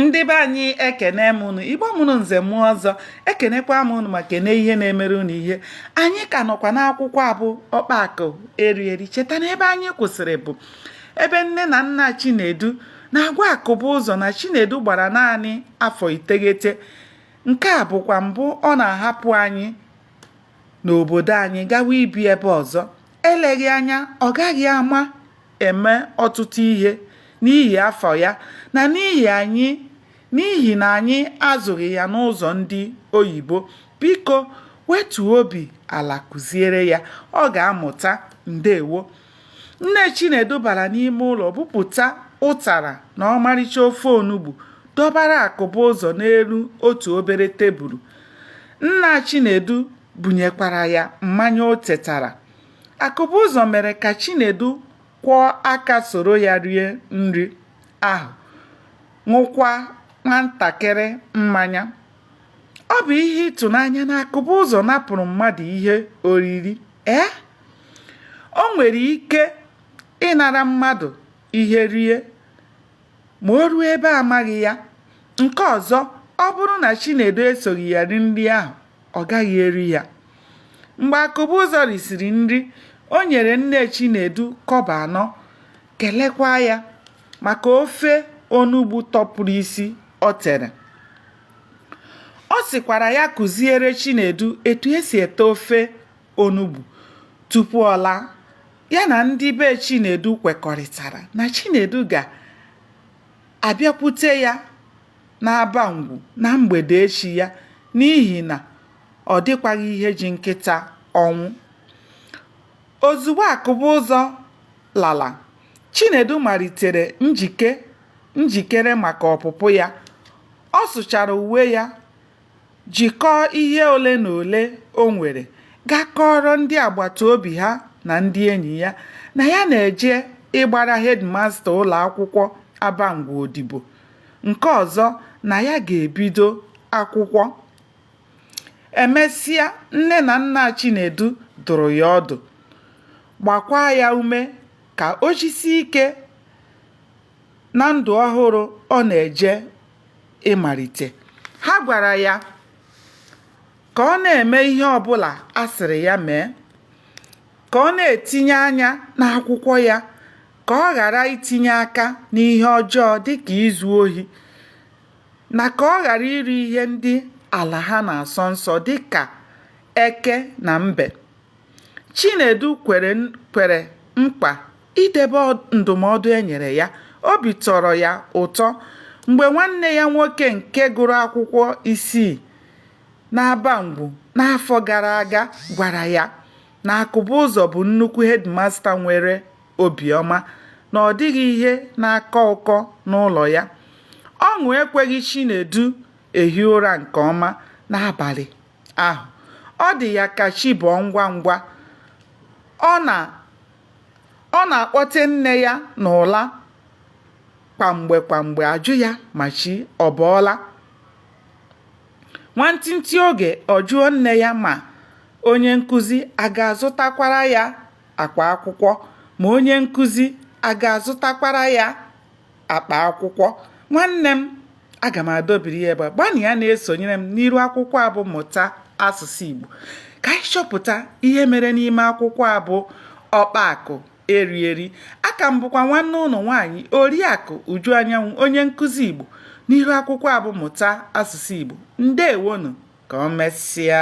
ndị be anyị ekene m unu igbo mụrụ nze mụọ ọzọ ekenekwa m unu ma kene ihe na-emere unu ihe anyị ka nọkwa n'akwụkwọ abụ ọkpakọ eri eri cheta na ebe anyị kwụsịrị bụ ebe nne na nna chinedu na-agwa akụbụzọ na chinedu gbara naanị afọ iteghete nke a bụkwa mbụ ọ na-ahapụ anyị n'obodo anyị gawa ibi ebe ọzọ eleghị anya ọ gaghị ama eme ọtụtụ ihe n'ihi afọ ya na n'ihi na anyị azụghị ya n'ụzọ ndị oyibo. Biko wetuo obi ala kụziere ya, ọ ga-amụta. Ndewo. Nne Chinedu bara n'ime ụlọ bupụta ụtara na ọmarịcha ofe onugbu dọbara Akụbụzọ n'elu otu obere tebulu. Nna Chinedu bunyekwara ya mmanya o tetara. Akụbụzọ mere ka Chinedu kwọọ aka soro ya rie nri ahụ, ṅụkwa nwantakịrị mmanya. Ọ bụ ihe ịtụnanya na Akụbụzọ napụrụ mmadụ ihe oriri. Ee, o nwere ike ịnara mmadụ ihe rie ma o ruo ebe amaghị ya. Nke ọzọ, ọ bụrụ na Chinedu esoghị ya ri nri ahụ, ọ gaghị eri ya mgbe akụbụzọ risiri nri o nyere nne chinedu kọbọ anọ kelekwa ya maka ofe onugbu tọpụrụ isi o tere ọ sịkwara ya kụziere chinedu etu esi ete ofe onugbu tupu ọ laa ya na ndị be chinedu kwekọrịtara na chinedu ga-abịakwute ya n'Abangwu na mgbede echi ya n'ihi na ọ dịkwaghị ihe ji nkịta ọnwụ. Ozugbo Akụbụzọ lara, Chinedu malitere njike njikere maka ọpụpụ ya. Ọ sụchara uwe ya, jikọọ ihe ole na ole o nwere gaa kọọrọ ndị agbata obi ha na ndị enyi ya na ya na-eje ịgbara hedmasta ụlọ akwụkwọ Abangwu odibo, nke ọzọ na ya ga-ebido akwụkwọ. E mesịa, nne na nna Chinedu dụrụ ya ọdụ, gbakwaa ya ume ka o jisie ike na ndụ ọhụrụ ọ na-eje ịmalite. Ha gwara ya ka ọ na-eme ihe ọbụla a sịrị ya mee, ka ọ na-etinye anya n'akwụkwọ ya, ka ọ ghara itinye aka n'ihe ọjọọ dịka izu ohi, na ka ọ ghara iri ihe ndị ala ha na-asọ nsọ dịka eke na mbe. Chinedu kwere nkwa idebe ndụmọdụ e nyere ya obi tọrọ ya ụtọ mgbe nwanne ya nwoke nke gụrụ akwụkwọ isii n'abangwu n'afọ gara aga gwara ya na akụbụzọ bụ nnukwu hedimasta nwere obiọma na ọ dịghị ihe na-akọ ụkọ n'ụlọ ya ọṅụ ekweghị chinedu ehi ụra nke ọma n'abalị ahụ ọ dị ya ka chi bọọ ngwa ngwa ọ na Ọ na-akpọte nne ya n'ụla kwa mgbe kwa mgbe ajụ ya ma chi ọ bọọla. Nwantịntị oge ọ jụọ nne ya ma onye nkụzi a ga-azụtakwara ya akwa akwụkwọ, ma onye nkụzi a ga-azụtakwara ya. akpa akwụkwọ nwanne m aga m adọbiri ya ebe a gbanịa na-esonyere m n'iru akwụkwọ a bụ mụta asụsụ Igbo ka anyị chọpụta ihe mere n'ime akwụkwọ a bụ ọkpa akụ eri eri a ka m bụkwa nwanne unu nwaanyị oriakụ uju anyanwụ onye nkụzi igbo n'ihu akwụkwọ a bụ mụta asụsụ igbo ndewonu ka o mesịa